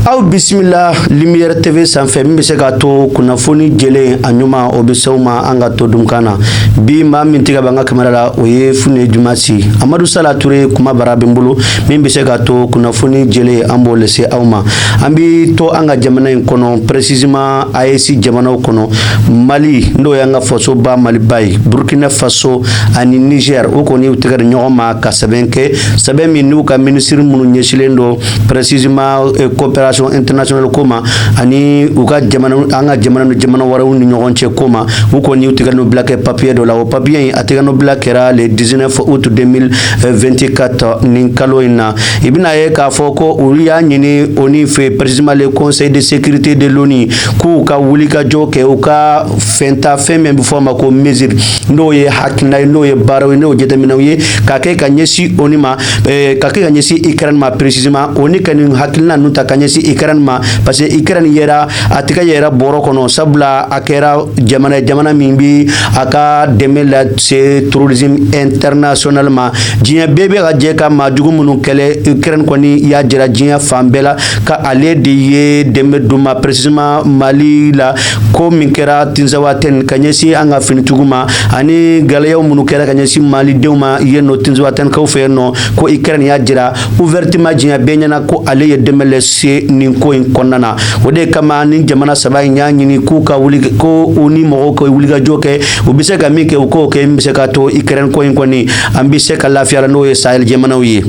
aw bisimila Lumière tv sanfɛ min bɛ se k'a to kunnafoni jɛlen a ɲuman o bɛ se ma an ka to dunkan na bi maa min tɛgɛ b'an ka kamera la o ye fune juma si amadu sala ture kumabara bɛ n bolo min bɛ se k'a to kunnafoni jɛlen an b'o lase aw ma an bɛ to an ka jamana in kɔnɔ précisément AES jamanaw kɔnɔ mali n'o y'an ka fasoba maliba ye burkina faso ani niger o kɔni u tɛgɛ di ɲɔgɔn ma ka sɛbɛn kɛ sɛbɛn min n'u ka minisiri minnu ɲɛsilen don précisément coopération internationale ko ma ani u ka an ka jamana ni jamana wɛrɛw ni ɲɔgɔn cɛ ko ma u kɔni u tɛgɛnɔ bila kɛ papiye dɔ la o papiye in a tɛgɛnɔ bila kɛra le 19 août 2024 nin kalo in na i bɛn'a ye k'a fɔ ko u y'a ɲini ONU fɛ précisément le conseil de sécurité de l'ONU k'u ka wulikajɔ kɛ u ka fɛn ta fɛn min bɛ fɔ a ma ko mesure n'o ye hakilina ye n'o ye baaraw ye n'o jateminɛw ye ka kɛ ka ɲɛsin ONU ma eh, ka kɛ ka ɲɛsin Ukraine ma précisément ONU ka nin hakilina ninnu ta ka ɲɛsin Ukraine ma parce que Ukraine yera a tɛgɛ yera bɔrɔ kɔnɔ sabula a kɛra jamana ye jamana min bi a ka dɛmɛ lase terrorisme international ma diɲɛ bɛɛ bɛ ka jɛ ka maa jugu minnu kɛlɛ Ukraine kɔni y'a jira diɲɛ fan bɛɛ la ko ale de ye dɛmɛ d'u ma précisément Mali la ko min kɛra tinzawatɛn ka ɲɛsin an ka finitigiw ma ani gɛlɛyaw minnu kɛra ka ɲɛsin malidenw ma yen nɔ tinzawatɛnkaw fɛ yen nɔ ko Ukraine y'a jira ouvertement diɲɛ bɛɛ ɲɛna ko ale ye dɛmɛ lase nin ko in kɔnɔna na o de kama nin jamana saba in y'a ɲini k'u ka wuli ko ONU mɔgɔw ka wulikajɔ kɛ u bɛ se ka min kɛ u k'o kɛ min bɛ se ka to Ukraine ko in kɔni an bɛ se ka lafiya la n'o ye sahel jamanaw ye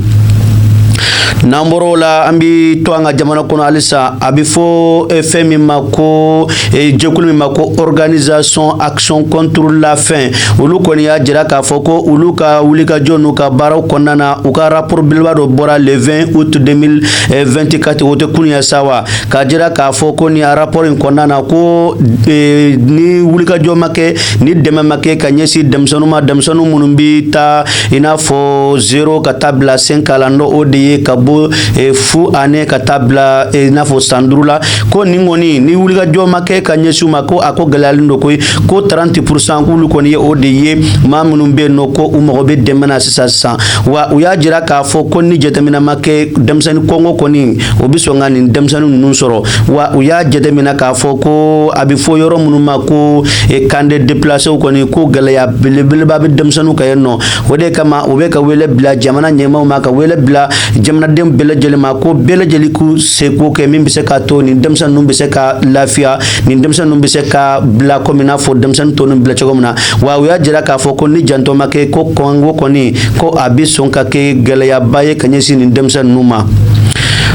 n'an bɔr'o la an bi to an ka jamana kɔnɔ halisa a bi fɔ eh, fɛn min ma ko eh, jɛkulu min ma ko organisation action contre la faim olu kɔni y'a jira k'a fɔ ko olu ka wulikajɔ n'u ka baaraw kɔnɔna na u ka rapport belebeleba dɔ bɔra le 20 août 2024 o tɛ kunu ye sa wa k'a jira k'a fɔ ko nin rapport in kɔnɔna na ko eh, ni wulikajɔ ma kɛ ni dɛmɛ ma kɛ ka ɲɛsin denmisɛnninw ma denmisɛnninw minnu bɛ taa i n'a fɔ zéro ka taa bila cinq ans la n'o o de ye ka bɔ eh, fu ani ka taa bila eh, i n'a fɔ san duuru la ko nin kɔni ni wulikajɔ ma kɛ ka ɲɛsin u ma ko a ko gɛlɛyalen don koyi ko 30 pourcent k'olu kɔni ye o de ye maa minnu bɛ yen nɔ ko u mago bɛ dɛmɛ na sisan sisan wa u y'a jira k'a fɔ ko ni jateminɛ ma kɛ denmisɛnnin kɔngɔ kɔni o bɛ sɔn ka nin denmisɛnnin ninnu sɔrɔ wa u y'a jateminɛ k'a fɔ ko a bɛ fɔ yɔrɔ minnu ma ko e camp de déplacés kɔni ko gɛlɛya belebeleba bɛ denmisɛnninw kan yen nɔ o de kama u bɛ ka wele bila jamana ɲɛmaaw ma ka wele bila jamanaden bɛɛ lajɛlen ma ko bɛɛ lajɛlen k'u seko kɛ min bɛ se k'a to nin denmisɛn ninnu bɛ se ka lafiya nin denmisɛn ninnu bɛ se ka bila komi i n'a fɔ denmisɛnnin tɔ ninnu bila cogo min na wa u y'a jira k'a fɔ ko ni janto ma kɛ ko kɔngɔ kɔni ko a bɛ sɔn ka kɛ gɛlɛyaba ye ka ɲɛsin nin denmisɛn ninnu ma.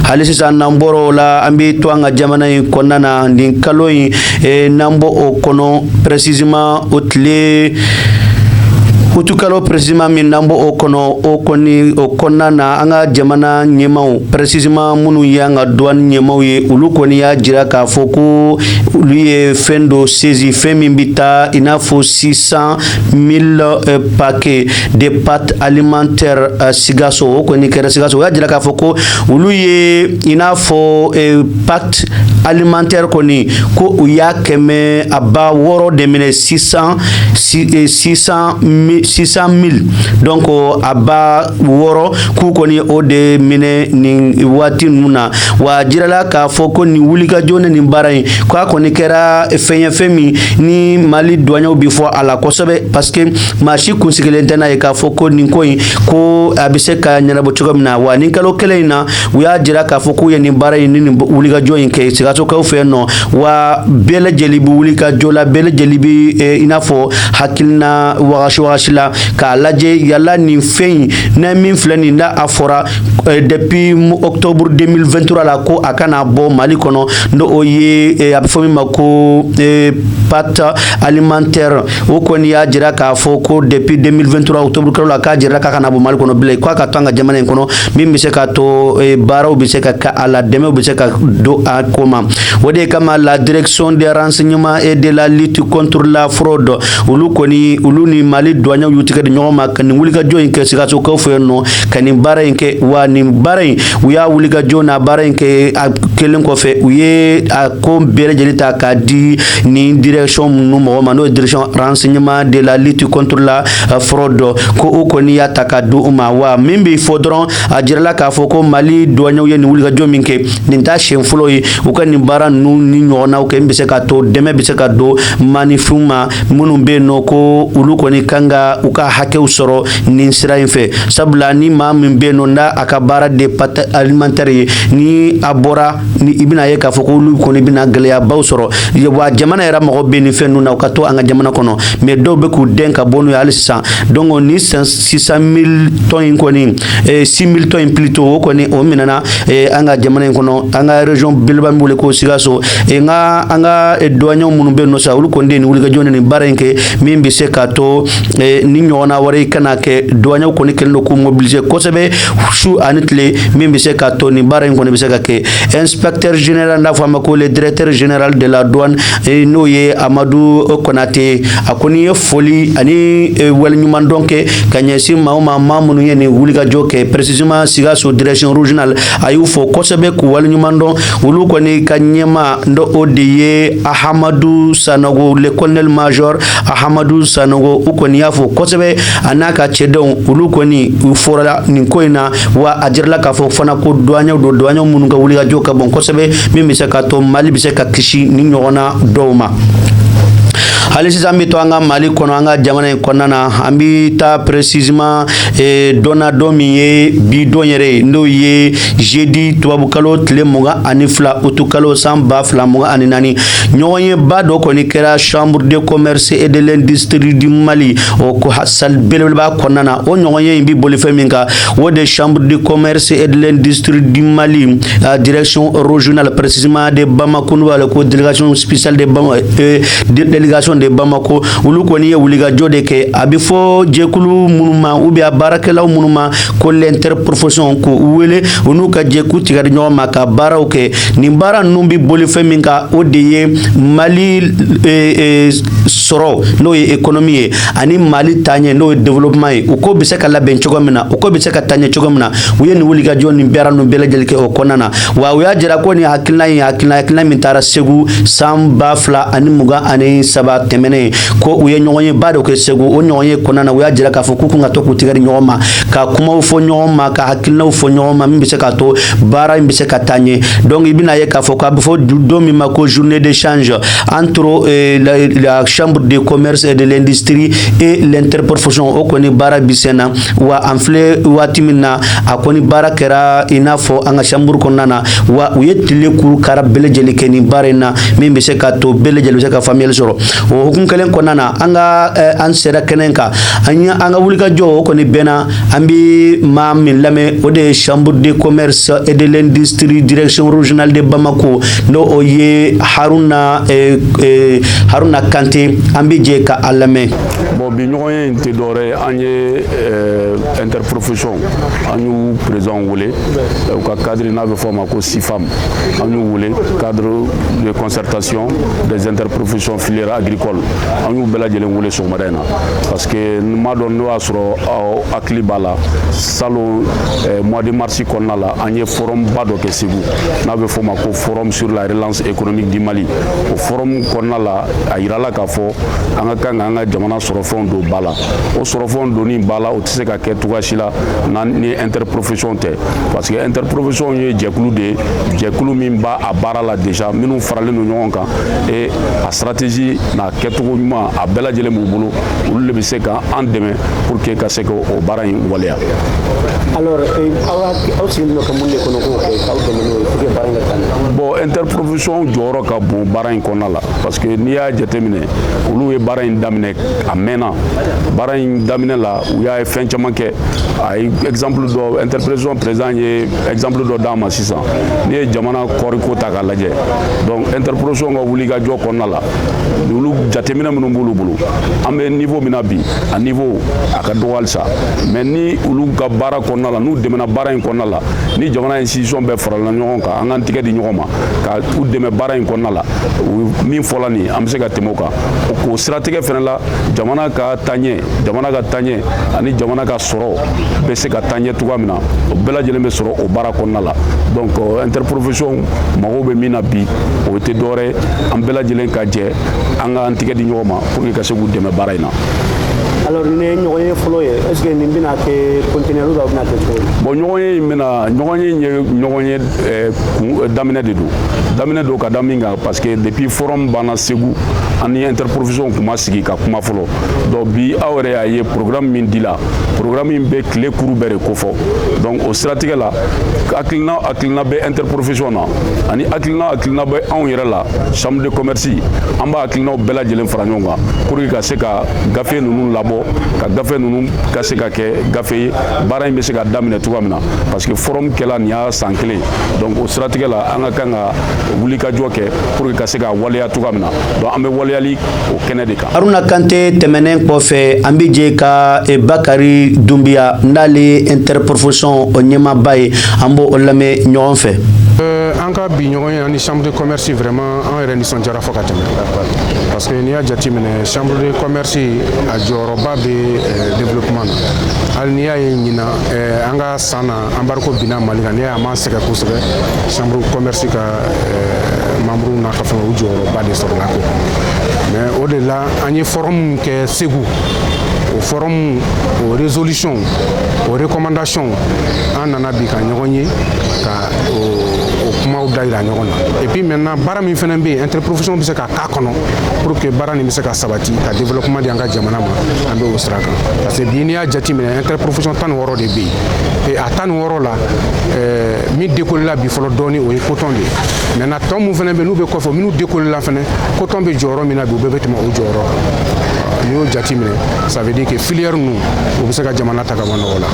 hali sisan n'an bɔra o la an bɛ to an ka jamana in kɔnɔna na nin kalo in e n'an bɔ o kɔnɔ précisément o tile utukalo précisément min n'an bɔ o kɔnɔ o kɔni o kɔnɔna na an ka jamana ɲɛmaaw précisément minnu ye an ka duwani ɲɛmaaw ye olu kɔni y'a jira k'a fɔ ko olu ye fɛn dɔ saisi fɛn min bɛ taa i n'a fɔ 600 mille euh, paquets de pâtes alimentaires euh, Sikaso o kɔni kɛra Sikaso o y'a jira k'a fɔ ko olu ye I n'a fɔ e pâtes alimentaires kɔni ko u y'a kɛmɛ a ba wɔɔrɔ de minɛ 600 mille donc a ba wɔɔrɔ k'u kɔni o de minɛ nin waati ninnu na wa jirala k'a fɔ ko nin wulikajɔ ni nin baara in k'a kɔni kɛra fɛn ye fɛn min ni mali duwanyew bɛ fo a la kosɛbɛ parce que maa si kun sigilen tɛ n'a ye k'a fɔ ko nin ko in ko a bɛ se ka ɲɛnabɔ cogo min na wa nin kalo kelen in na u y'a jira k'a fɔ k'u ye nin baara in ni nin wulikajɔ in kɛ sikasokaw fɛ yen nɔ wa bɛɛ lajɛlen bɛ wulikajɔ la bɛɛ lajɛlen bɛ eh, i n'a fɔ hakilina wagasi wagasi la k'a lajɛ yala nin fɛn in n'a min filɛ nin na a fɔra eh, depuis octobre 2023 la ko a kana bɔ mali kɔnɔ n'o ye eh, a bɛ fɔ min ma ko pâte alimentaire o kɔni y'a jira k'a fɔ ko depuis 2023 octobre kalo la k'a jirala k'a kana bɔ mali kɔnɔ bilen k'a ka to an ka jamana in kɔnɔ min bɛ se ka to eh, baaraw bɛ se ka kɛ a la dɛmɛw bɛ se ka don a ko ma o de kama la direction des renseignements et de la lutte contre la fraude olu kɔni olu ni mali duwanyew y'u tigɛ di ɲɔgɔn ma ka nin wulikajɔ in kɛ sikasokaw fɛ yen nɔ ka nin baara in kɛ wa nin baara in u y'a wulikajɔ n'a baara in kɛ a kɛlen kɔfɛ u ye a ko bɛɛ lajɛlen ta k'a di nin direction ninnu mɔgɔ ma n'o ye direction renseignement de la lutte contre la euh, fraude ko o kɔni y'a ta ka di u ma wa min bɛ fɔ dɔrɔn a jirala k'a fɔ ko mali duwanyew ye nin wulikajɔ min kɛ nin t'a siɲɛ fɔlɔ ye u ka nin baara ninnu ni ɲɔgɔnnaw kɛ min bɛ se ka to dɛmɛ bɛ se ka don maanifinw ma minnu bɛ yen nɔ ko olu kɔni kan ka u ka hakɛw sɔrɔ nin sira in fɛ sabula ni maa min bɛ yen nɔ n'a a ka baara de pâte alimentaire ye ni a bɔra ni i bɛna ye k'a fɔ ko olu kɔni bɛna gɛlɛyabaw sɔrɔ wa jamana yɛrɛ mako bɛ nin fɛn ninnu na u ka to an ka jamana kɔnɔ mais dɔw bɛ k'u dɛn ka bɔ n'u ye hali sisan donc nin six cent mille tonnes in kɔni eh, six mille tonnes in plutôt o kɔni o minɛna eh, an ka jamana in kɔnɔ an ka région beleba min bɛ wele ko sikaso eh, n ka an ka duwaɲɛw minnu bɛ yen nɔ sa olu kɔni de ye nin wulikajɔ ni nin baara in kɛ min bɛ se k'a to nin ɲɔgɔnna wɛrɛ kana kɛ duwaɲɛw kɔni kɛlen don k'u mobiliser kosɛbɛ su ani tile min bɛ se ka to nin baara in kɔni bɛ se ka kɛ inspecteur général n'a fɔ a ma ko le directeur général de la douane eh, n'o ye amadu konate a kɔni ye foli ani eh, waleɲumandɔn kɛ ka ɲɛsin maaw ma maa minnu ye nin wulikajɔ kɛ précisément sikaso direction régionale a y'u fo kosɛbɛ k'u waleɲumandɔn olu kɔni ka ɲɛmaa n'o de ye ahamadu sanogo le colonel major ahamadu sanogo u kɔni y'a fo kosɛbɛ a n'a ka cɛdenw olu kɔni u fora nin ko in na wa a jirala k'a fɔ fana ko duwaɲɛw don duwaɲɛw minnu ka wulikajɔ ka bon kosɛbɛ min bɛ se ka to mali bɛ se ka kisi nin ɲɔgɔnna dɔw ma hali sisan an bɛ to an ka mali kɔnɔ an ka jamana in kɔnɔna na an bɛ taa précisément eh, don na don min ye bi don yɛrɛ ye n'o ye jeudi tubabukalo tile mugan ani fila utukalo san ba fila mugan ani naani ɲɔgɔnyeba dɔ kɔni kɛra chambre de commerce et de l'industrie du mali o ko salle belebeleba kɔnɔna na o ɲɔgɔnye in bɛ boli fɛn min kan o de chambre de commerce et de l'industrie du Mali la direction régionale précisément de Bamako n'u b'a wele ko délégation spéciale de Bamako euh, délégation de Bamako olu kɔni ye wulikajɔ de kɛ a bɛ fɔ jɛkulu minnu ma ou bien a baarakɛlaw minnu ma ko l'interprofession k'u wele u n'u ka jɛ k'u tigɛ di ɲɔgɔn ma ka baaraw kɛ nin baara ninnu bɛ boli fɛn min kan o de ye Mali euh, euh, sɔrɔ n'o ye économie ye ani mali taaɲɛ n'o ye développement ye u ko bɛ se ka labɛn cogo min na u ko bɛ se ka taa ɲɛ cogo min na u ye nin wulikajɔ nin baara ninnu bɛɛ lajɛlen kɛ o kɔnɔna na wa u y'a jira ko nin hakilina ye hakilina hakilina min taara segu san ba fila ani mugan ani saba tɛmɛnen ko u ye ɲɔgɔnyeba dɔ kɛ segu o ɲɔgɔnye kɔnɔna na u y'a jira k'a fɔ k'u kan ka to k'u tigɛ di ɲɔgɔn ma ka kumaw fɔ ɲɔgɔn ma ka hakilinaw fɔ ɲɔgɔn ma min bɛ se k'a to baara in bɛ se ka taa ɲɛ donc i bɛna ye k'a fɔ k'a bɛ fɔ don min ma ko journée d'échange entre euh, la, la, chambre de commerce et de l'industrie et l'interprofession o kɔni baara bɛ sen na wa an filɛ waati min na a kɔni baara kɛra i n'a fɔ an ka chambre kɔnɔna na wa u ye tile kuru kara bɛɛ lajɛlen kɛ nin baara in na min bɛ se ka to bɛɛ lajɛlen bɛ se ka faamuyali sɔrɔ o hukumu kelen kɔnɔna na an ka an sera kɛnɛ kan an ye an ka wulikajɔ o kɔni bɛnna an bɛ maa min lamɛn o de ye chambre de commerce et de l'industrie direction régionale de Bamako n'o o ye Haruna eh, eh, Haruna Kante an bɛ jɛ ka a lamɛn. bon bi ɲɔgɔnye in tɛ dɔwɛrɛ ye an ye eh, interprofession an y'u président wele u ka cadre n'a bɛ fɔ a ma ko sifam an y'u wele cadre de concertation des interprofessions filières agricoles an y'u bɛɛ lajɛlen wele sɔgɔmada in na que n m'a dɔn n'o y'a sɔrɔ aw hakili b'a la salon eh, mois de mars kɔnɔna la an ye forum ba dɔ kɛ Segu n'a bɛ fɔ a ma ko forum sur la relance économique du Mali o forum kɔnɔna la a yirala k'a fɔ an ka kan ka an ka jamana sɔrɔfɛnw don ba la o sɔrɔfɛnw donni ba la o tɛ se ka kɛ cogoya si la n'an ni interprofession tɛ parce que interprofession ye jɛkulu de ye jɛkulu min b'a a baara la déjà minnu faralen don ɲɔgɔn kan et a stratégie n'a kɛcogo ɲuman a bɛɛ lajɛlen b'u bolo olu de bɛ se ka an dɛmɛ pour que ka se ka o baara in waleya. alors eh, aw aw sigilen don ka mun de kɔnɔ k'o kɛ k'aw dɛmɛ n'o ye pour que baara in ka taa bon interprofession jɔyɔrɔ ka bon baara in kɔnɔna la parce que n'i y'a jateminɛ olu ye baara in daminɛ a mɛnna baara in daminɛ la u y'a ye fɛn caman kɛ a ye exemple dɔ interprofession président ye exemple dɔ d'a ma sisan n'i ye jamana kɔɔriko ta k'a lajɛ donc interprofession ka wulikajɔ kɔnɔna la olu jateminɛ min b'olu bolo an bɛ niveau min na bi a niveau a ka dɔgɔ halisa mais ni olu ka baara kɔnɔna la n'u dɛmɛna baara in kɔnɔna la ni jamana institution bɛɛ farala ɲɔgɔn kan an k'an tigɛ di ɲɔgɔn ma ka u dɛmɛ baara in kɔnɔna la min fɔla nin an bɛ se ka tɛmɛ o kan k'o siratigɛ fana la jamana ka taɲɛ jamana ka taɲɛ ani jamana ka sɔrɔ bɛ se ka taa ɲɛ cogoya min na o bɛɛ lajɛlen bɛ sɔrɔ o baara kɔnɔna la donc interprofession mago bɛ min na bi o tɛ dɔwɛrɛ an bɛɛ lajɛlen ka jɛ an ka an tigɛ di ɲɔgɔn ma pour que ka se k'u dɛmɛ baara in na alors nin ye ɲɔgɔnye fɔlɔ ye est-ce que nin bɛna kɛ continuer ou bien a bɛna kɛ cogo di bon ɲɔgɔnye in bɛna ɲɔgɔnye in ye ɲɔgɔnye eh, eh, daminɛ de don daminɛ don ka da min kan parce que depuis forum banna Segu an ni interprofession tun ma sigi ka kuma fɔlɔ donc bi aw yɛrɛ y'a ye programme min dila programme in bɛ tile kuru bɛɛ de kofɔ donc o siratigɛ la hakilina hakilina bɛ interprofession na ani hakilina hakilina bɛ anw yɛrɛ la chambre de commerce an b'a hakilinaw bɛɛ lajɛlen fara ɲɔgɔn kan pour que ka se ka gafe ninnu labɔ ka gafe ninnu ka se ka kɛ gafe ye baara in bɛ se ka daminɛ cogoya min na parce que forum kɛla nin y'a san kelen donc o siratigɛ la an ka kan ka wulikajɔ kɛ pour que ka se ka waleya cogoya min na donc an bɛ waleyali o kɛnɛ de kan haruna kante tɛmɛnen kɔfɛ an bɛ jɛ ka e, bakari dunbiya n'ale ye interprofession o ɲɛmaaba ye an b'o o lamɛn ɲɔgɔn fɛ euh, an ka bi ɲɔgɔnye ani chambre de commerce vraiment an yɛrɛ nisɔndiyara fo ka tɛmɛ parce que n'i y'a jateminɛ chambre de commerce a jɔyɔrɔba bɛ euh, développement na hali n'i y'a ye ɲinan euh, an ka san na embargo binna mali kan n'i y'a ye a ma sɛgɛn kosɛbɛ chambre commerce ka eh, membre n'a ka fɛn u jɔyɔrɔba de sɔrɔla ko mais o de la an ye forum kɛ segu o forum o résolution o recommandation an nana bi ka ɲɔgɔn ye ka o kumaw da yira ɲɔgɔn na et puis maintenant baara min fana bɛ yen interprofession bɛ se ka k'a kɔnɔ pour que baara nin bɛ se ka sabati ka développement di an ka jamana ma an bɛ o sira kan parce que bi n'i y'a jateminɛ interprofession tan ni wɔɔrɔ O de bɛ yen a tan ni wɔɔrɔ la min décollé la bi fɔlɔ dɔɔni o ye coton de ye maintenant tɔ min fana bɛ yen n'u bɛ kɔfɛ minnu décollé la fana coton bɛ jɔyɔrɔ min na bi u bɛɛ bɛ tɛmɛ o jɔyɔrɔ kan n'i y'o jateminɛ ça veut dire que filière ninnu u bɛ se ka jamana ta ka bɔ nɔgɔ la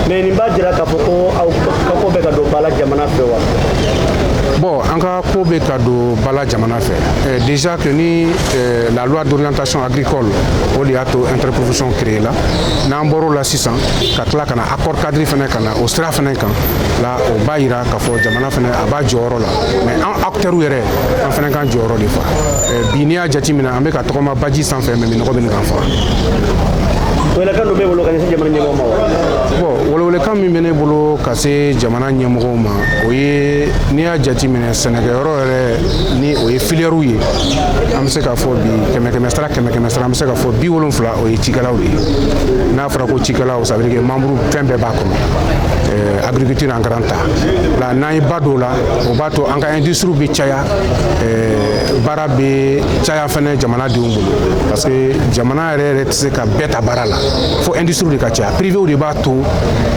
mais nin b'a jira k'a fɔ ko aw ka ko bɛ ka don ba la jamana fɛ wa bon an ka ko bɛ ka don ba la jamana fɛ eh, déjà que ni eh, la loi d'orientation agricole o de y'a to interprofession créé la n'an bɔr'o la sisan ka tila ka na accord cadre fana ka na o sira fana kan la o b'a yira k'a fɔ jamana fana a b'a jɔyɔrɔ la mais an acteurs yɛrɛ an fana k'an jɔyɔrɔ de fa bi n'i y'a jateminɛ an bɛ ka tɔgɔma baji sanfɛ mais minnɔgɔ bɛ ɲini k'an faga welekan dɔ b'e bolo ka ɲɛsin jamana ɲɛmɔgɔw ma wa bon welewelekan min bɛ ne bolo ka se jamana ɲɛmɔgɔw ma o ye n'i y'a jateminɛ sɛnɛkɛyɔrɔ yɛrɛ ni o ye filièrew ye an bɛ se k'a fɔ bi kɛmɛ kɛmɛ sara kɛmɛ kɛmɛ sara an bɛ se k'a fɔ biwolonfila o ye cikɛlaw de ye n'a fɔra ko cikɛlaw ça veut dire que membre fɛn bɛɛ b'a kɔnɔ euh, agriculture en grand A la n'an ye ba don la o b'a to an ka industrie bɛ caya euh, baara bɛ caya fɛnɛ jamana denw bolo parce que jamana yɛrɛ yɛrɛ tɛ se ka bɛɛ ta baara la fo industrie de ka caya privéw de b'a to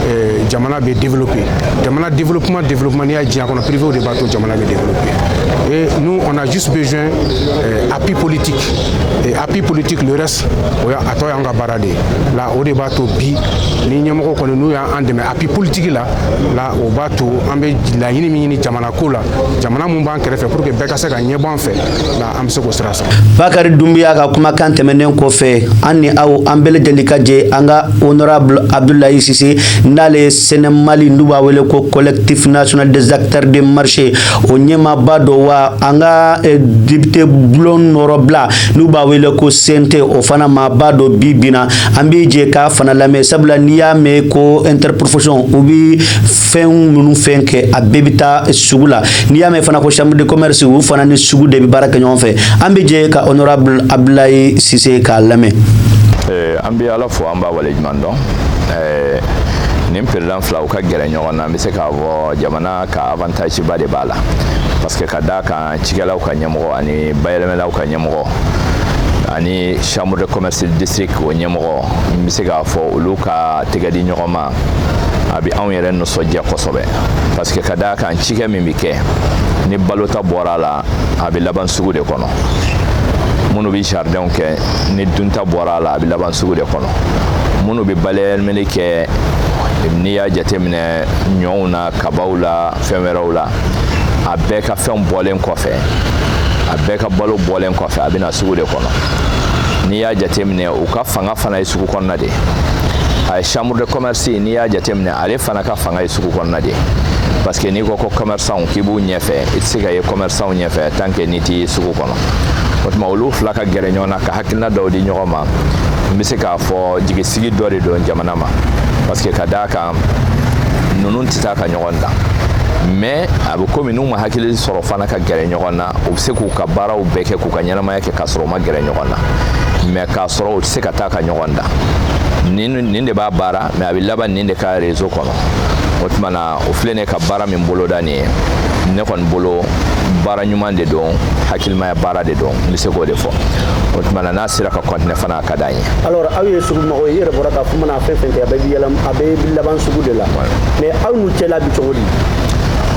euh, jamana bɛ développer jamana développement développement n'i y'a diɲɛ kɔnɔ privéw de b'a to jamana bɛ développer et nous on a juste besoin euh, appui politique et Appui politique le reste o a tɔ y'an ka baara de ye la o de b'a to bi ni ɲɛmɔgɔ kɔni n'u y'an dɛmɛ appui politique la la o b'a to an bɛ laɲini min ɲini jamana ko la jamana mun b'an kɛrɛfɛ pour que bɛɛ ka se ka ɲɛbɔ an fɛ la an bɛ se k'o sira sɔrɔ bakari dunbiya ka kumakan tɛmɛnen kɔfɛ an ni aw an bɛɛ lajɛlen ka jɛ an ka honorable abdulayi sise n'ale ye sɛnɛ mali n'u b'a wele ko collectif national des acteurs de marché o ɲɛmaaba dɔ wa an ka eh, député bulon nɔrɔbila n'u b'a wele ko CNT o fana maaba dɔ bi bina an bɛ jɛ k'a fana lamɛn sabula n'i y'a mɛn ko interprofession u bɛ fɛn minnu fɛn kɛ a bɛɛ bɛ taa sugu la n'i y'a mɛn fana ko chambre de commerce u fana ni sugu de bɛ baara kɛ ɲɔgɔn fɛ an bɛ jɛ ka honorable abdulayi sise k'a lamɛn. Eh, an bɛ ala fo an b'a waleɲuman dɔn eh, nin président fila u ka gɛrɛ ɲɔgɔn na n bɛ se k'a fɔ jamana ka avantage ba de b'a la parce que ka d'a kan an cikɛlaw ka ɲɛmɔgɔ ani bayɛlɛmɛlaw ka ɲɛmɔgɔ ani chambre de commerce district o ɲɛmɔgɔ n bɛ se k'a fɔ olu ka tɛgɛ di ɲɔgɔn ma a bɛ anw yɛrɛ nisɔndiya kosɛbɛ parce que ka d'a kan cikɛ min bɛ kɛ ni balota bɔra a la a bɛ laban sugu de kɔnɔ minnu bɛ jardinw kɛ ni dunta bɔra a la a bɛ laban sugu de kɔnɔ minnu bɛ bayɛlɛmali kɛ n'i y'a jateminɛ ɲɔw na a kabaw la fɛn wɛrɛw la a bɛɛ ka fɛnw bɔlen kɔfɛ a bɛɛ ka balo bɔlen kɔfɛ a bɛ na sugu de kɔnɔ n'i y'a jateminɛ u ka fanga fana ye sugu kɔnɔna de a ye chambre de commerce n'i y'a jateminɛ ale fana ka fanga ye sugu kɔnɔna de parce que n'i ko ko commerçant k'i b'u ɲɛfɛ i tɛ se ka ye commerçant ɲɛfɛ tant que n'i tɛ sugu kɔnɔ o tuma olu fila ka gɛrɛ ɲɔgɔn na ka hakilina dɔw di ɲɔgɔn ma n bɛ se k'a fɔ jigisigi dɔ de don jamana ma parce que ka d'a kan kan ninnu tɛ taa ka ɲɔgɔn dan mais a bɛ komi n'u ma hakili sɔrɔ fana ka gɛrɛ ɲɔgɔn na u bɛ se k'u ka baaraw bɛɛ kɛ k'u ka ɲɛnamaya kɛ k'a sɔrɔ u ma gɛrɛ ɲɔgɔn na mais k'a sɔrɔ u tɛ se ka taa ka ɲɔgɔn dan nin nin de b'a baara mais a bɛ laban nin de ka réseau kɔnɔ o tuma na o filɛ ne ka baara min boloda nin ye ne kɔni bolo baara ɲuman de don hakilimaya baara de don n bɛ se k'o de fɔ o tuma na n'a sera ka continuer fana ka d'an ye alors aw ye sugu mɔgɔw ye i yɛrɛ bɔra k'a fɔ k'u mana fɛn fɛn kɛ a bɛɛ bɛ yɛlɛ a bɛɛ bɛ laban sugu de la mais aw n'u cɛla bi cogo di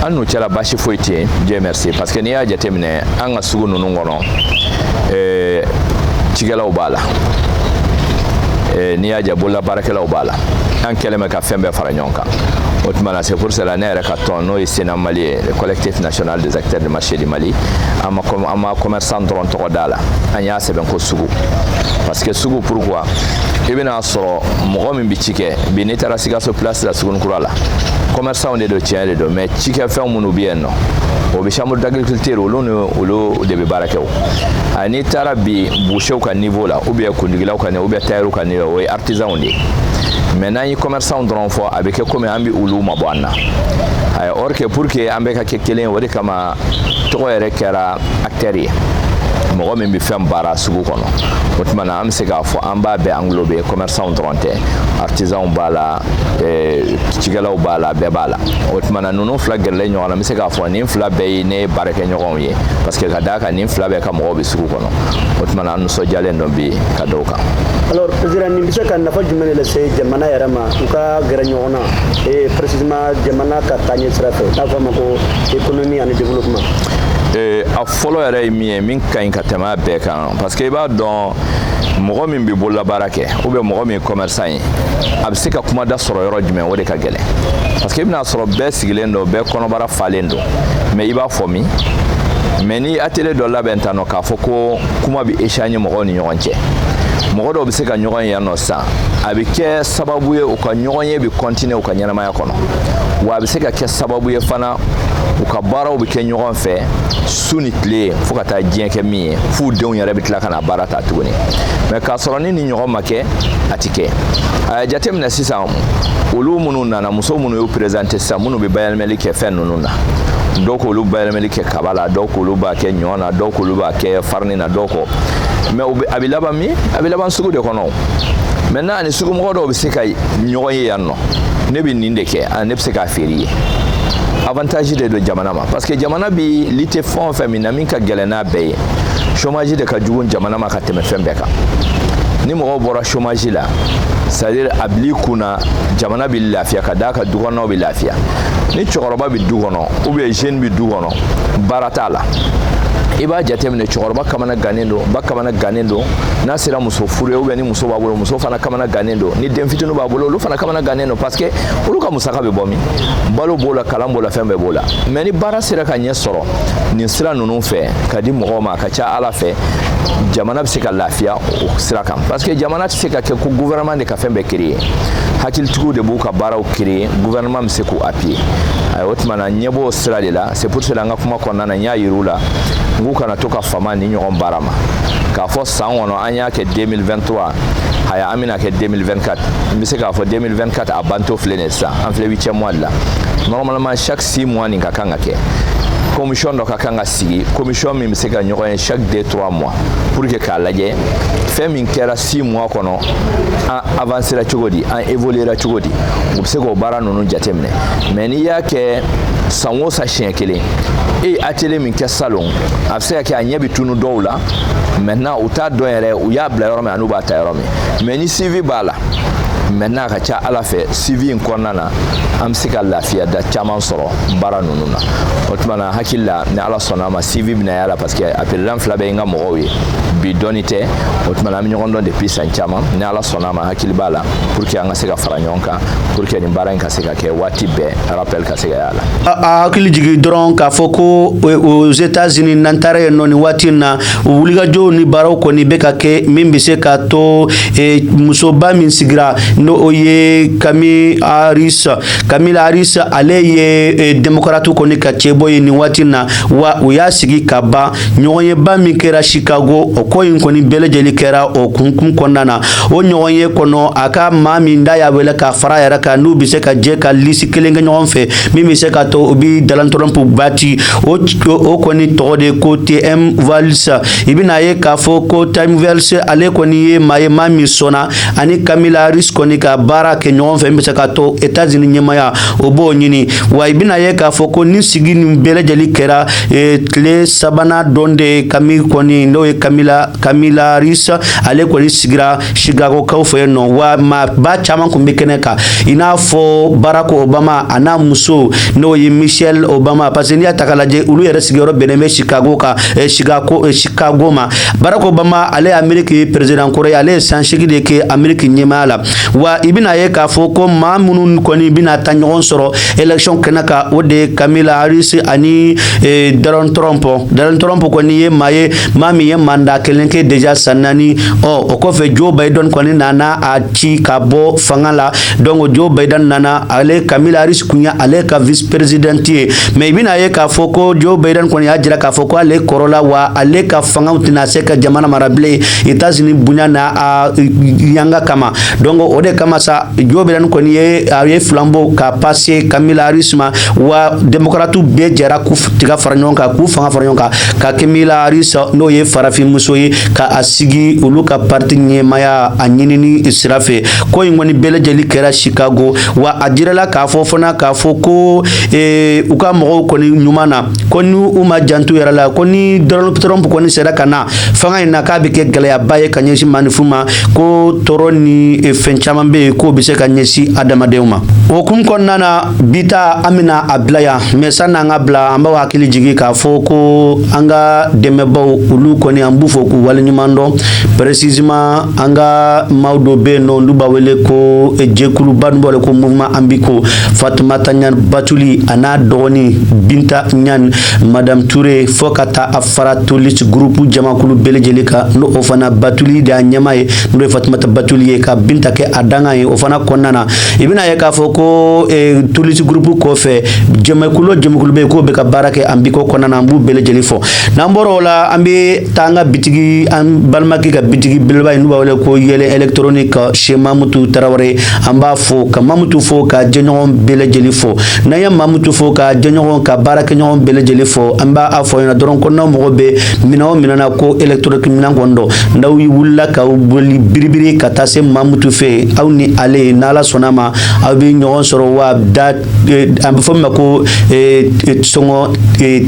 an n'u cɛla basi foyi tɛ yen dieu merci parce que n'i y'a jateminɛ an ka sugu ninnu kɔnɔ eh, cikɛlaw b'a la eh, n'i y'a ja bololabaarakɛlaw b'a la an kɛlen bɛ ka fɛn bɛɛ fara ɲɔgɔn kan o tuma na c'est pour cela ne yɛrɛ ka tɔn n'o ye CNAM mali ye le collectif national des acteurs du marché du mali an ma commerçant dɔrɔn tɔgɔ d'a la an y'a sɛbɛn ko sugu parce que sugu pourquoi i bɛna sɔrɔ mɔgɔ min bɛ ci kɛ bi n'i taara sikaso place la suguni kura la commerçant de don tiɲɛ de don mais cikɛfɛnw minnu bɛ yen nɔ o bɛ chambre d'agriculture olu ni olu de bɛ baara kɛ o n'i taara bi boucherw ka niveau la ou bien kundigilaw ka niveau ou bien tailleur ka niveau o ye artisanw de ye mais n'an ye commerçant dɔrɔn fɔ a bɛ kɛ komi an bɛ olu mabɔ an na or que pour que an bɛɛ ka kɛ kelen o de kama tɔgɔ yɛrɛ kɛra acteur ye mɔgɔ min bɛ fɛn baara sugu kɔnɔ o tuma na an bɛ se k'a fɔ an b'a bɛɛ englober commerçant dɔrɔn tɛ artisanw b'a la eh, cikɛlaw b'a la bɛɛ b'a la o tuma na ninnu fila gɛrɛlen ɲɔgɔn na n bɛ se k'a fɔ nin fila bɛɛ ye ne baarakɛɲɔgɔnw ye parce que ka d'a kan nin fila bɛɛ ka mɔgɔw bɛ sugu kɔnɔ o tuma na an nisɔndiyalen don bi ka da o kan. alors président nin bɛ se ka nafa jumɛn de lase jamana yɛrɛ ma u ka gɛrɛ ɲɔgɔn na eh, précisément jamana ka taaɲɛ sira fɛ n'a fɔ a ma ko économie ani développement ee eh, a fɔlɔ yɛrɛ ye min ye min ka ɲi ka tɛmɛ a bɛɛ kan parce que i b'a dɔn mɔgɔ min bɛ bololabaara kɛ ou bien mɔgɔ min ye commerçant ye a bɛ se ka kumada sɔrɔ yɔrɔ jumɛn o de ka gɛlɛn parce que i bɛna sɔrɔ bɛɛ sigilen don bɛɛ kɔnɔbara falen don mais i b'a fɔ min mais ni atelier dɔ labɛn tan nɔ k'a fɔ ko kuma bɛ échanger mɔgɔw ni ɲɔgɔn cɛ mɔgɔ dɔw bɛ se ka ɲɔgɔn ye yan nɔ sisan a bɛ kɛ sababu ye u ka ɲɔgɔnye bɛ continuer u ka ɲɛnamaya kɔnɔ wa a bɛ se ka kɛ sababu ye fana u ka baaraw bɛ kɛ ɲɔgɔn fɛ su ni tile fo ka taa diɲɛ kɛ min ye f'u denw yɛrɛ bɛ tila ka na baara ta tuguni mais k'a sɔrɔ ni nin ɲɔgɔn ma kɛ a tɛ kɛ a jateminɛ sisan olu minnu nana muso minnu y'u présenter sisan minnu bɛ bayɛlɛmali kɛ fɛn ninnu na dɔw k'olu bayɛlɛmali kɛ kaba la dɔw k'olu b'a kɛ ɲɔ na dɔw k'olu b'a kɛ farini na dɔw ko mais a bɛ laban min a bɛ laban sugu de kɔnɔ maintenant a ni sugumɔgɔ dɔw bɛ se ka ɲɔgɔn ye yan nɔ ne bɛ nin de kɛ ah, ne bɛ se k'a feere ye avantage de don jamana ma parce que jamana bi lutter fɛn o fɛn min na min ka gɛlɛn n'a bɛɛ ye chômage de ka jugu jamana ma ka tɛmɛ fɛn bɛɛ kan ni mɔgɔw bɔra chômage la c'est à dire a bil'i kun na jamana bɛ lafiya ka d'a kan dukɔnɔnaw bɛ lafiya ni cɛkɔrɔba bɛ du kɔnɔ ou bien jeune bɛ du kɔnɔ baara t'a la i b'a jateminɛ cɛkɔrɔba kamana gannen don ba kamana gannen don n'a sera muso furu ye ou bien ni muso b'a bolo muso fana kamana gannen don ni den fitinin b'a bolo olu fana kamana gannen don parce que olu ka musaka bɛ bɔ min balo b'o la kalan b'o la fɛn bɛɛ b'o la mais ni baara sera ka ɲɛ sɔrɔ nin sira ninnu fɛ ka di mɔgɔw ma a ka ca ala fɛ jamana bɛ se ka lafiya o sira kan parce que jamana tɛ se ka kɛ ko gouvernement de ka fɛn bɛɛ créer hakilitigiw de b'u ka baaraw créer gouvernement bɛ se k'u appuyer o tuma na ɲɛ b'o sira de la c'est pour cela an ka kuma kɔnɔna na n y'a yir'u la n k'u kana to ka fama nin ɲɔgɔn baara ma k'a fɔ san kɔnɔ an y'a kɛ 2023 haya an bɛna kɛ 2024 n bɛ se k'a fɔ 2024 a bantɔ filɛ nin ye sisan an filɛ huitième mois de la normalement chaque six mois nin ka kan ka kɛ commission dɔ ka kan ka sigi commission min bɛ se ka ɲɔgɔn ye chaque deux trois mois pour que k'a lajɛ fɛn min kɛra six mois kɔnɔ an avancera cogo di an évoluera cogo di u bɛ se k'o baara ninnu jateminɛ mais n'i y'a kɛ san o san siɲɛ kelen e ye atelier min kɛ salon a bɛ se ka kɛ a ɲɛ bɛ tunu dɔw la maintenant u t'a dɔn yɛrɛ u y'a bila yɔrɔ min an'u b'a ta yɔrɔ min mais ni suivi b'a la maintenant a ka ca ala fɛ suivi in kɔnɔna na an bɛ se ka lafiya da caman sɔrɔ baara ninnu na o tuma na hakili la ni ala sɔnna a ma suivi bɛna y'a la parce que a peredan fila bɛ n ka mɔgɔw ye bi dɔnni tɛ o tuma na an bɛ ɲɔgɔn dɔn depuis san caman ni ala sɔnna a ma hakili b'a la pour que an ka se ka fara ɲɔgɔn kan pour que nin baara in ka se ka kɛ waati bɛɛ rappel ka se ka y'a la a hakili jigin dɔrɔn k'a fɔ ko aux états unis n'an taara yen nɔ nin waati in na wulikajɔw ni baaraw kɔni bɛ ka kɛ min bɛ se ka to e, musoba min sigira n'o o ye kami harris kamila harris ale ye e, démocrate kɔni ka cɛbɔ ye nin waati in na wa u y'a sigi ka ban ɲɔgɔnyeba min kɛra chicago o ko in kɔni bɛɛ lajɛlen kɛra o hukumu kɔnɔna na o ɲɔgɔnye kɔnɔ a ka maa min n'a y'a wele k'a fara yɛrɛ kan n'u bɛ se ka jɛ ka lisi kelen kɛ ɲɔgɔn fɛ min bɛ se ka to u bɛ donald trump bati o o kɔni tɔgɔ de ko tim walz i bɛna ye k'a fɔ ko tim walz ale kɔni ye maa ye maa min sɔnna ani kamila harris kɔni ka baara kɛ ɲɔgɔn fɛ min bɛ se ka to états unis ɲɛmaya u b'o ɲini wa i bɛna ye k'a fɔ ko nin sigi nin bɛɛ lajɛlen kɛra tile sabanan don de ye kami kɔni n'o ye kamila Kamila Harris ale kɔni sigira Chicagokaw fɛ yen nɔ wa maaba caman tun bɛ kɛnɛ kan i n'a fɔ Barack Obama a n'a muso n'o ye Michelle Obama parce que n'i y'a ta k'a lajɛ olu yɛrɛ sigiyɔrɔ bɛnnen bɛ Chicago kan eh, Chicago, eh, Chicago ma Barack Obama ale ye Ameriki peresidan kɔrɔ ye ale ye san seegin de kɛ Ameriki ɲɛmaaya la wa i bɛna ye k'a fɔ ko maa minnu kɔni bɛna taa ɲɔgɔn sɔrɔ élection kɛnɛ kan o de ye Kamila Harris ani eh, Donald Trump Donald Trump kɔni ye maa ye maa min ye mandat kelen kɛ deja san naani ɔ o kɔfɛ joe biden kɔni nana a ci ka bɔ fanga la donc joe biden nana ale kamila harris kun ye ale ka vice président ye mais i bɛna ye k'a fɔ ko joe biden kɔni y'a jira k'a fɔ ko ale kɔrɔla wa ale ka fangaw tɛna se ka jamana mara bilen états unis bonya n'a yanga kama donc o de kama sa joe biden kɔni ye a ye flambeau ka passer kamila harris ma wa démocrate bɛɛ jɛra k'u tɛgɛ fara ɲɔgɔn kan k'u fanga fara ɲɔgɔn kan ka kamila harris n'o ye farafinmuso ye ka a sigi olu ka parti ɲɛmaya a ɲinini sira fɛ ko in kɔni bɛɛ lajɛli kɛra chicago wa a jirala k'a fɔ fana k'a fɔ ko eh, u ka mɔgɔw kɔni ɲuman na ko ni u ma jant'u yɛrɛ la ko ni donald trump kɔni sera ka na fanga in na k'a bɛ kɛ gɛlɛyaba ye ka ɲɛsin maaninfinw ma ko tɔɔrɔ ni eh, fɛn caman bɛ yen k'o bɛ se ka ɲɛsin adamadenw ma o kun kɔnɔna na bi ta an bɛna a bila yan mais sani an ka bila an b'aw hakili jigin k'a fɔ ko an ka dɛmɛbaaw olu kɔni an b'u fo k'u waleɲuman dɔn précisément an ka maaw dɔ bɛ yen n'olu b'a wele ko eh, jɛkuluba an b'a wele ko mouvement an biko fatumata ɲan batuli an'a dɔgɔnin binta ɲan madame ture fo ka taa a fara tolis gurupu jamakulu bɛɛ lajɛlen kan n'o o fana batuli de y'a ɲɛmaa ye n'o ye fatumata batuli ye ka binta kɛ a dankan ye o fana kɔnɔna na i bɛna a ye k'a fɔ ko eh, tolisi gurupu kɔfɛ jamakulu jamakulu bɛ yen k'o bɛ ka baara kɛ an biko kɔnɔna na an b'u bɛɛ lajɛlen fo n'an bɔra o la an bɛ taa an ka bitigi an balimakɛ ka bitigi belebeleba in n'u b'a wele ko yɛlɛ électronique chez mamutu tarawele an b'a fo ka mamutu fo k'a jɛɲɔgɔn bɛɛ lajɛlen fo n'an ye mamutu fo k'a jɛɲɔgɔn k'a baarakɛɲɔgɔn bɛɛ lajɛlen fo an b'a fɔ ɲɛna dɔrɔn ko n'aw mago bɛ minɛn o minɛn na ko électronique minɛn kɔni don n'aw wulila ka boli biribiri ka taa se Mamutu fɛ yen aw ni ale n'Ala sɔnna ma aw bɛ ɲɔgɔn sɔrɔ wa da an b'a fɔ min ma ko sɔngɔ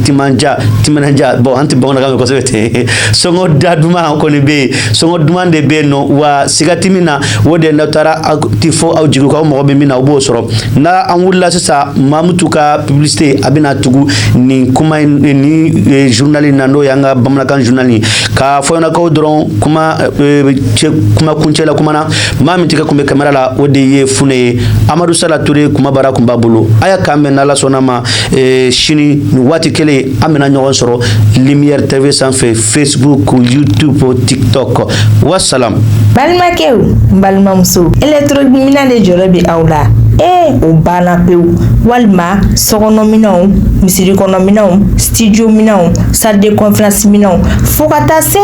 timandiya timinandiya bon an tɛ bamanankan mɛn kosɛbɛ ten sɔngɔ da duman kɔni bɛ yen sɔngɔ duman de bɛ yen nɔ wa siga tɛ min na o de n'aw taara aw ti fɔ aw jigi kɔ aw mago bɛ min na aw b'o sɔrɔ n'an wulila sisan mamutu ka publicité a bɛna tugu nin kuma in ni eh, journal in na n'o y'an ka bamanankan journal ye k'a fɔ ɲɛna ko dɔrɔn kuma eh, cɛ kuma kuncɛ la kuma na maa min tɛgɛ kun bɛ kamera la o de ye fune ye amadu sala ture kuma bara kun b'a bolo aya k'an bɛn n'ala sɔnna ma eh, sini nin waati kelen an bɛna ɲɔgɔn sɔrɔ lumière tv sanfɛ Facebook, YouTube, TikTok. Wassalam. Balimakɛw, balimamusow, électrominɛn de jɔrɔ bɛ aw la. ee o banna pewu walima sokɔnɔminɛnw misiri kɔnɔminɛnw studio minɛnw salle de conférence minɛnw fo ka taa se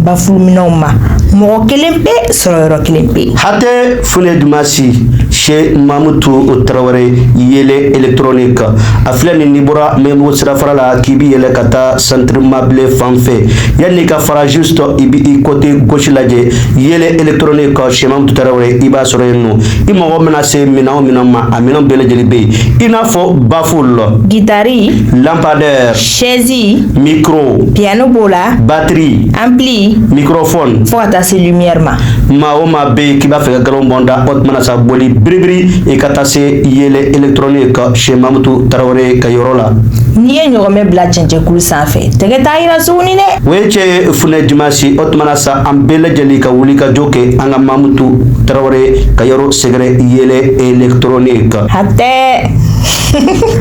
bafuluminɛnw ma mɔgɔ kelen pe sɔrɔ yɔrɔ kelen pe hatɛ fune dumasi chez mamutu tarawele yɛlɛ électronique a filɛ nin n'i bɔra maɲanbugu sirafara la k'i bi yɛlɛ ka taa centre mabile fan fɛ yanni ka fara juste i bɛ i côté gauche lajɛ yɛlɛ électronique chez Mamutu Tarawele i b'a sɔrɔ yen nɔ i mago bɛna se minɛn o minɛn ma a minɛn bɛɛ lajɛlen bɛ yen i n'a fɔ baful guitare lampadaire chaise micro piano b'o la batterie ampli microphone fo ka taa se lumière ma maa o maa bɛ yen k'i b'a fɛ ka galon bɔ n da o tuma na sa boli biribiri i ka taa se yɛlɛ électronique chez Mamutu Tarawele ka yɔrɔ la n'i ye ɲɔgɔmɛ bila cɛncɛkulu sanfɛ tɛgɛ t'a yira s dɛ o ye cɛ ye fune dimasi o tuma na sa an bɛɛ lajɛlen ka wuli ka jɔ kɛ an ka mamutu tarawele ka yɔrɔ sɛgɛrɛ yɛlɛ électronique hatɛ